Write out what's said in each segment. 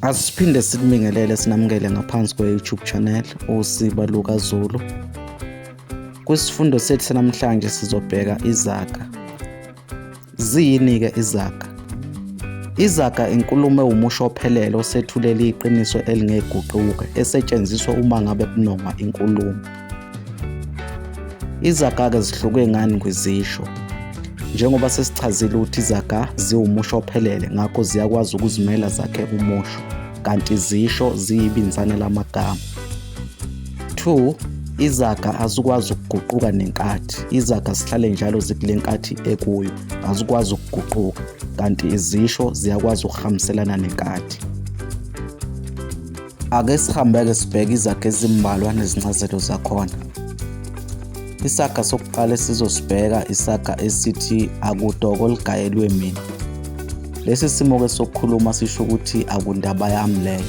Asiphinde sikubingelele sinamukele ngaphansi kwe-YouTube channel uSiba Luka Zulu. Kwisifundo sethu sanamhlanje sizobheka izaga. Ziyini-ke izaga? Izaga inkulumo ewumusho ophelele osethulela iqiniso elingeguquka esetshenziswa uma ngabe kunongwa inkulumo. Izaga-ke zihluke ngani kwizisho? Njengoba sesichazile ukuthi izaga ziwumusho ophelele, ngakho ziyakwazi ukuzimela zakhe umusho, kanti izisho ziyibinzana lamagama. 2 izaga azikwazi ukuguquka nenkathi izaga zihlale njalo zikule nkathi ekuyo azikwazi ukuguquka kanti izisho ziyakwazi ukuhambiselana nenkathi Ake sihambeke sibheke izaga ezimbalwa nezincazelo zakhona. Isaga sokuqala esizosibheka isaga esithi akudoko ligayelwe mina. Lesi simo ke sokukhuluma sisho ukuthi akundaba yami leyo.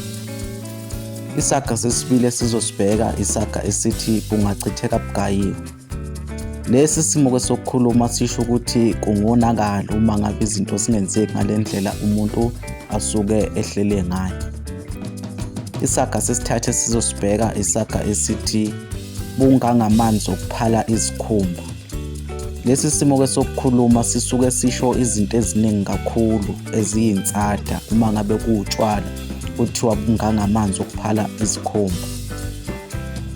Isaga sesibili esizosibheka isaga esithi kungachitheka bugayiwe. Lesi simo kwesokukhuluma sisho ukuthi kungonakala uma ngabe izinto zingenzeki ngale ndlela umuntu asuke ehlele ngayo. Isaga sesithathe sizosibheka isaga esithi bungangamanzi okuphala izikhumba. Lesi simo ke sokukhuluma sisuke sisho izinto eziningi kakhulu eziyinsada uma ngabe kuwutshwala kuthiwa bungangamanzi okuphala izikhumba.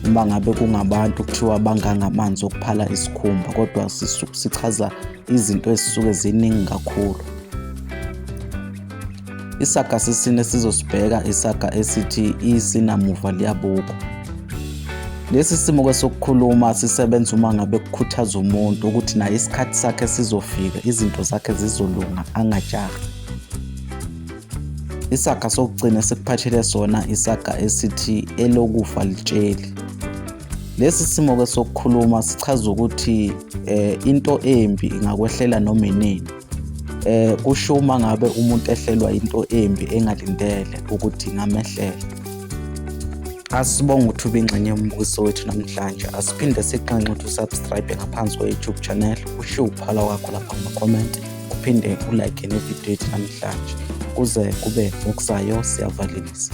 uma ngabe kungabantu kuthiwa banganga amanzi okuphala isikhumba kodwa sichaza izinto ezisuke ziningi kakhulu isaga sesine sizosibheka isaga esithi isinamuva liyabuka lesi simo ke sokukhuluma sisebenza uma ngabe kukhuthaza umuntu ukuthi naye isikhathi sakhe sizofika izinto zakhe zizolunga angajahi Isaga sokugcina sikuphathele sona isaga esithi elokufa litsheli. Lesi simo ke sokukhuluma sichaza ukuthi eh into embi ingakwehlela noma inini. Eh kusho uma ngabe umuntu ehlelwa into embi engalindele ukuthi ngamehlela. Asibonga ukuthi ubingxenye yombukiso wethu namhlanje. Asiphinde siqanqe ukuthi usubscribe ngaphansi kwe-YouTube channel, ushiye uphala wakho lapha kuma-comment. uphinde ulike nevidiyo yethu namhlanje kuze kube ngokuzayo siyavalelisa